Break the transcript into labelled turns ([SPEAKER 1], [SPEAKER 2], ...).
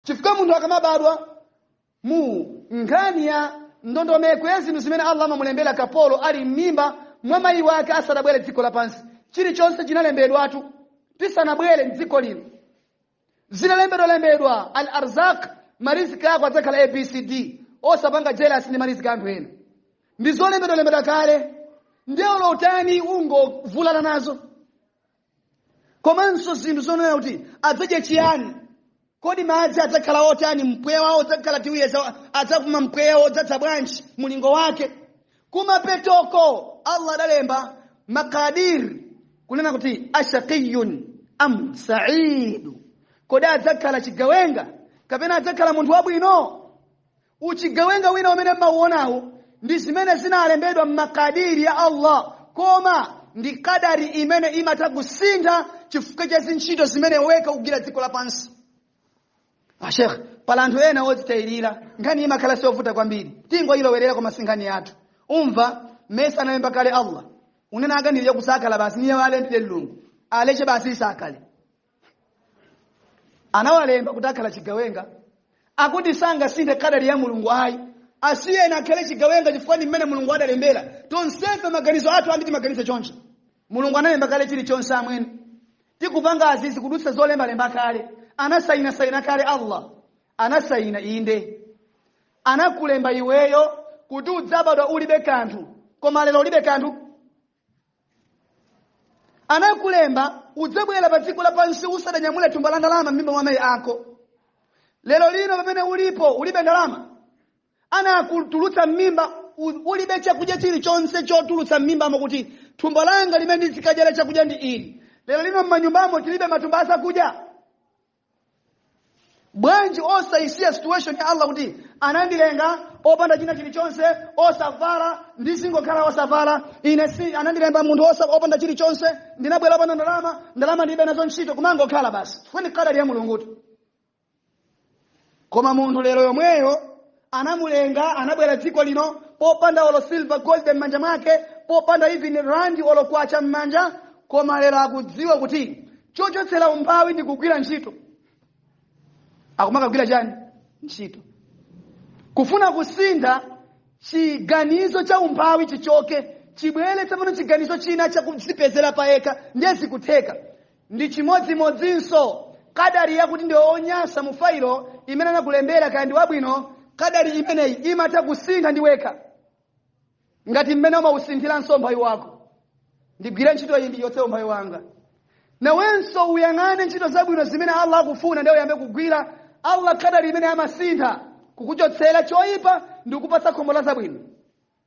[SPEAKER 1] chifukwa munthu akamabadwa mu nkhani ya ndondomeko ya zinthu zimene allah amamulembera kapolo ali m'mimba mwa mayi wake asanabwere dziko lapansi chilichonse chinalembedwatu tisanabwere mdziko lino zinalembedwalembedwa al arzak mariziki ako adzakhala abcd osapanga jealous ndi mariziki anthu ena ndi zolembedwalembedwa kale ndiye ulowutani ungovulana nazo komanso zinthu zonena kuti adzadye chiyani kodi madzi adzakhala otani mpweya wawo udzakhala tiwuyeza adzapuma mpweya wodzadza bwanji mulingo wake kumapetoko allah adalemba makadir kunena kuti ashaqiyun am saidu kodi adzakhala chigawenga kapena adzakhala munthu wabwino uchigawenga wina umene mmauonawo ndi zimene zinalembedwa m'makadiri ya allah koma ndi kadari imene imatha kusintha chifukwa cha zintchito zimene iwe ukugwira dziko lapansi ashekh pali anthu ena odzitayirira nkhani imakhala siovuta kwambiri tingoyilowerera koma si nkhani yathu umva mesa analemba kale allah unena akanirira kusakhala basi niye walembire mlungu aleche basi atakhale anawalemba kuti akhala chigawenga akuti sangasinthe kadali ya mulungu ayi asiyeni akhale chigawenga chifukwa ndi mmene mulungu adalembera tonsefe maganizo athu ambiri maganizo choncho mulungu analemba kale chilichonse amwene tikupanga izizi kudutsa zolembalemba kale anasayina sayina kale allah anasayina inde anakulemba iweyo kuti udzabadwa ulibe kanthu koma lero ulibe kanthu anakulemba udzabwera pa dziko lapansi usadanyamule thumba la ndalama m'mimba mwa mayi ako lero lino pamene ulipo ulibe ndalama anakutulutsa m'mimba u- ulibe chakudya chilichonse chotulutsa m'mimbamo kuti thumba langa limene ndizikadyera chakudya ndi ili lero lino m'manyumbamo tilibe matumba azakudya bwanji osaisiya situation ya allah kuti anandilenga opanda china chilichonse osavala ndizingokhala osavala ine si anandilenga munthu osa opanda chilichonse ndinabwera opanda ndalama ndalama ndilibe nazo ntchito kumangokhala basi ndi kadali ya mulungutu koma munthu lero yomweyo anamulenga anabwera dziko lino popanda olo silver gold m'manja mwake popanda even rand olo kwacha m'manja koma lero akudziwa kuti chochotsera umphawi ndi kugwira ntchito akumakagwira chani ntchito kufuna kusintha chiganizo cha umphawi chichoke chibwere tsopano chiganizo china chakudzipezera payekha ndiye zikutheka ndi chimodzimodzinso kadari yakuti ndi onyansa mu failo imene anakulembera kaya ndi wabwino kadari imeneyi imatha kusintha ndi wekha ngati mmene umausinthira umphawi wako ndigwire ntchito iyi ndichotse umphawi wanga nawenso uyang'ane ntchito zabwino zimene allah akufuna ndiye uyambe kugwira allah kadari imeneyi amasintha kukuchotsera choyipa ndi kukupatsa khomo la zabwino